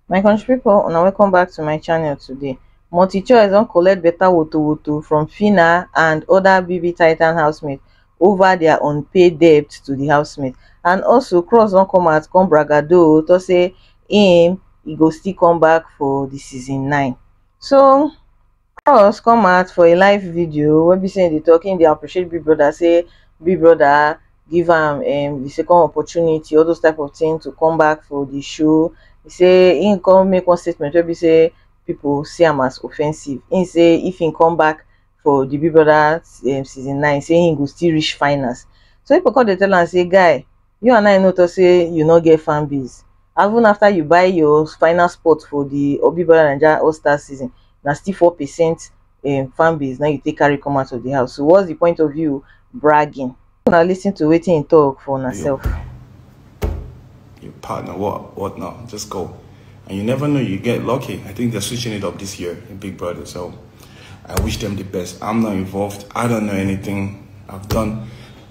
my country people, una welcome back to my channel today multichoice don collect better woto woto from fina and other bb titan housemates over their unpaid debt to the housemate and also cross don come out come bragado to say him he go still come back for the season nine so Cross come out for a live video wey be say im dey talk, im dey appreciate Big Brother say Big Brother give am um the second opportunity, all those type of thing to come back for the show. He say im come make one statement wey be say people see am as offensive. Im say if im come back for the Big Brother um season nine, say im go still reach finals. So people come dey tell am say guy you and I no talk say you no get fan base even after you buy your final spot for the Obi Bola Naija All Star season na still four percent um, fan base na you take carry come out of the house so what's the point of you bragging una lis ten to wetin he talk for una sef. your partner what what now just go and you never know you get lucky i think they're switching it up this year in big brother so i wish them the best i'm not involved i don't know anything i've done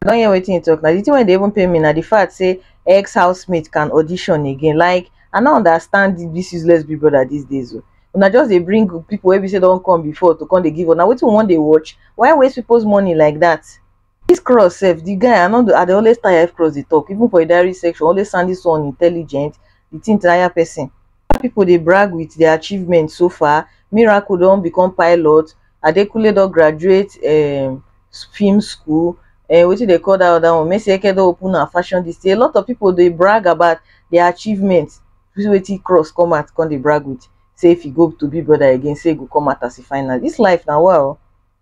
I don hear wetin you talk now. The thing wey dey even pain me na the fact say ex housemate can audition again. Like I no understand this useless big brother these days oh. Una just dey bring people wey be say don come before to come dey give una wetin we wan dey watch. Why waste people's money like that? This cross sef, the guy I no dey I dey always tire if cross dey talk even for the diary section always sound this one intelligent, the thing tire person. After pipo dey brag wit dia achievements so far, Miracle don become pilot, Adekunle don graduate um film school, um wetin dem call dat oda one, Mercy Eke don open her fashion dis thing, a lot of pipo dey brag about dia achievements, see wetin Cross come out come dey brag wit, sey if e go to Big Brother again sey e go come out as a finalist, dis life na wa o.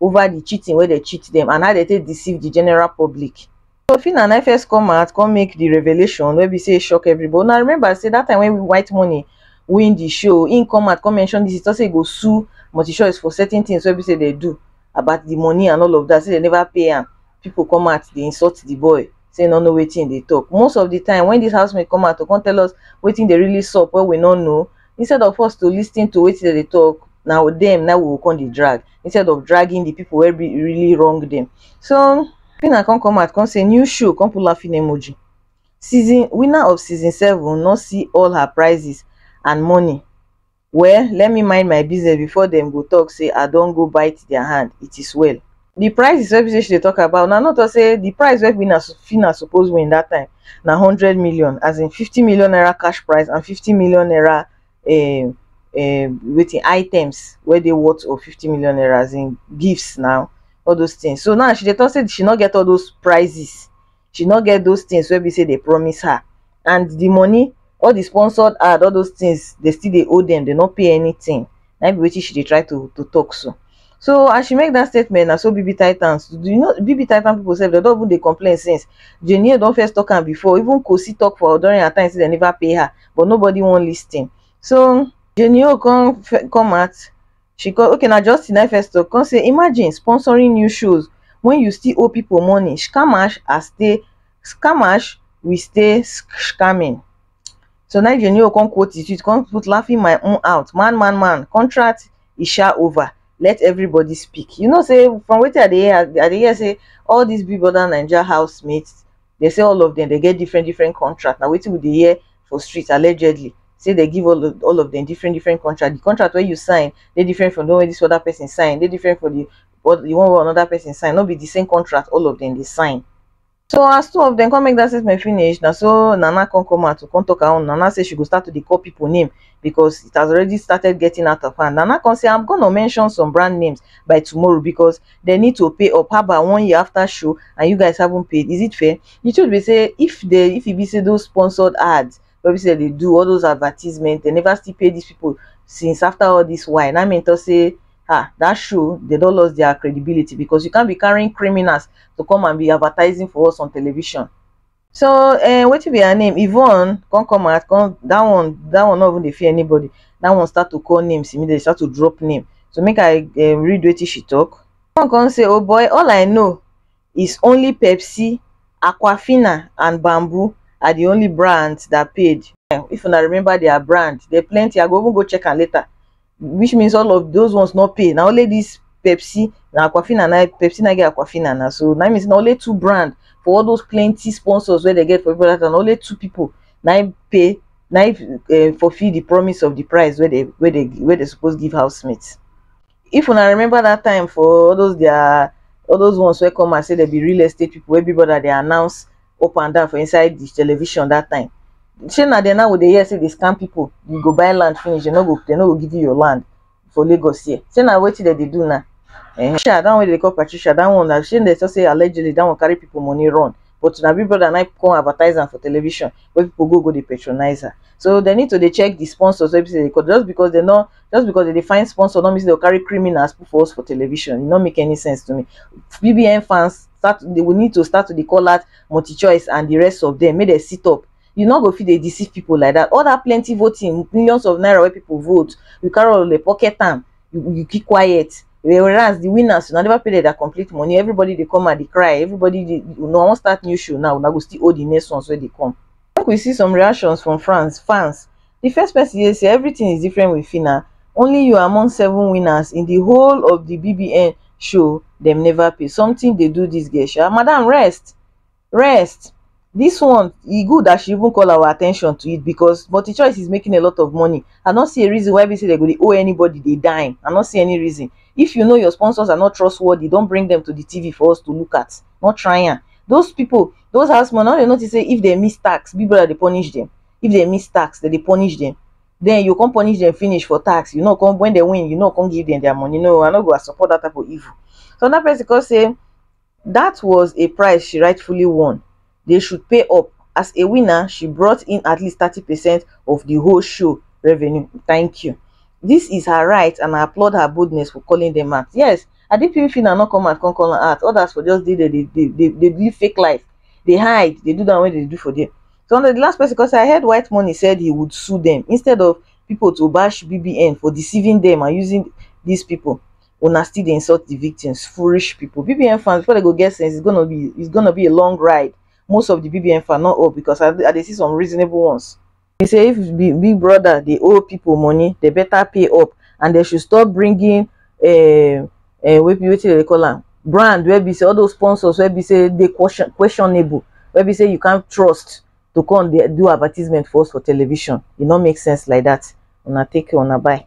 over the cheating wey dem cheat dem and how dem take deceive the general public. So Phyna na first come out come make the revelation wey be say e shock everybody. Una remember say that time when White Money win the show, im come out come mention this, he talk say e go sue Multichoice for certain things wey be say dem do about the money and all of that, say dem never pay am. People come out dey insult the boy, say e no know wetin e dey talk. Most of the time when this housemate come out to come tell us wetin dey really sup wey we no know, instead of us to lis ten to wetin dem dey talk, na dem na im we go come dey drag. instead of dragging the people where be really wrong them. So Pina come come out, come say new show, come pull laughing emoji. Season winner of season seven will not see all her prizes and money. Well, let me mind my business before them go talk say I don't go bite their hand. It is well. The price is wey she talk about Now not to say the price wey winner Fina suppose win that time Now hundred million as in fifty million naira cash prize and fifty million naira um um wetin items wey dey worth of fifty million naira as in gifts na, all those things. So now she dey talk say she no get all those prizes, she no get those things wey be say dey promise her and the money, all the sponsored ad, all those things dey still dey owe dem, dey no pay anything. Na im be wetin she dey try to to talk so. So as she make that statement na so BBTitans, you know BBTitan people sef dey don even dey complain since. Jane Yeo don first talk am before, even Kosi talk for during her time say dem never pay her. but nobody wan listen so Jenny O come come out she come okay na Justin na first talk come say imagine sponsoring new shows when you still owe people money scamash are stay scamash we stay scamming so now Jenny O come quote it come put laughing my own out man man man contract is sha over let everybody speak you know say from wetin i dey hear i dey hear say all these big brother naija housemates They say all of them they get different different contract. Now waiting with the year for streets allegedly. Say they give all of, all of them different different contract. The contract where you sign, they different from the one this other person sign. They different for the what the one where another person sign. Not be the same contract. All of them they sign. So as two of them come make that statement finish, now so Nana come come out to come talk her Nana say she go start to call people name because it has already started getting out of hand. Nana come say I'm gonna mention some brand names by tomorrow because they need to pay up haba one year after show and you guys haven't paid is it fair the truth be say if they if e be say those sponsored ads wey be say they do all those advertisement they never still pay these people since after all this while na me talk say ah that show they don lost their credibility because you can't be carrying criminals to come and be advertising for us on television So um wetin be her name Yvonne come come out come that one that one no even dey fear anybody that one start to call names immediately start to drop name so make I um read wetin she talk one come say oh boy all I know is only Pepsi Aquafina and Bamboo are the only brands that paid if una remember their brand they plenty I go even go check am later which means all of those ones no pay na only this pepsi na aquafina na pepsi na get aquafina na so na means na only two brand for all those plenty sponsors wey they get for people that na only two people na im pay na im uh, fulfill the promise of the price wey they wey they wey they suppose give housemates if una remember that time for all those their all those ones wey come and say they be real estate people wey big brother dey announce up and down for inside the television that time shey na dem now we dey hear say dey scam people you go buy land finish dem no go dem no go give you your land for lagos here shey na wetin dem dey do now eh patricia that one wey dem dey call patricia that one na shey dem talk say allegedly that one carry people money run but na big brother na come advertise am for television wey people go go dey patronize her so dem need to dey check the sponsors wey be say because just because dem no just because dem dey find sponsor no mean say dem go carry criminals put for us for television e no make any sense to me bbn fans start they will need to start to dey call out multi-choice and the rest of them make they sit up you no go fit dey deceive people like that all that plenty voting millions of naira wey people vote you carry all the pocket am you, you keep quiet whereas the winners una never pay them their complete money everybody dey come and dey cry everybody dey una wan start new show now una go still hold the next ones wey dey come make we see some reactions from france fans di first pesin hear say evritin is different wit phyna only you among seven winners in di whole of di bbn show dem neva pay somtin dey do dis girl sha madam rest rest dis one e good as she even call our attention to it becos multichoice is making a lot of money i no see a reason why be say dem go dey owe anybody a dime i no see any reason if you know your sponsors are not trustworthy don bring dem to di tv for us to look at no try am those pipo those house man no dey notice say if dem miss tax big brother dey punish dem if dem miss tax dem dey punish dem then you come punish dem finish for tax you no come when dem win you no come give dem their money no i no go support that type of evil so another person come say that was a price she rightfully won they should pay up as a winner she brought in at least thirty percent of the whole show revenue thank you this is her right and i applaud her boldness for calling them out yes adepiwi fina no come out come call am out others for just dey there dey dey dey dey live fake life dey hide dey do that one wey dey do for there So now the last person, because I heard White Money said he would sue them instead of people to bash BBN for deceiving them and using these people. Una still dey insult the victims, foolish people. BBN fans, before they go get sense, it's gonna be it's gonna be a long ride. Most of the BBN fans, not all, because I, I dey see some reasonable ones. He say if Bi- Big Brother dey owe people money, they better pay up and they should stop bringing uh, uh, wey be wetin dey call am brand wey be say all those sponsors wey be say dey question questionable wey be say you can't trust to come dey do advertisement for us for television e no make sense like that una take care una bye.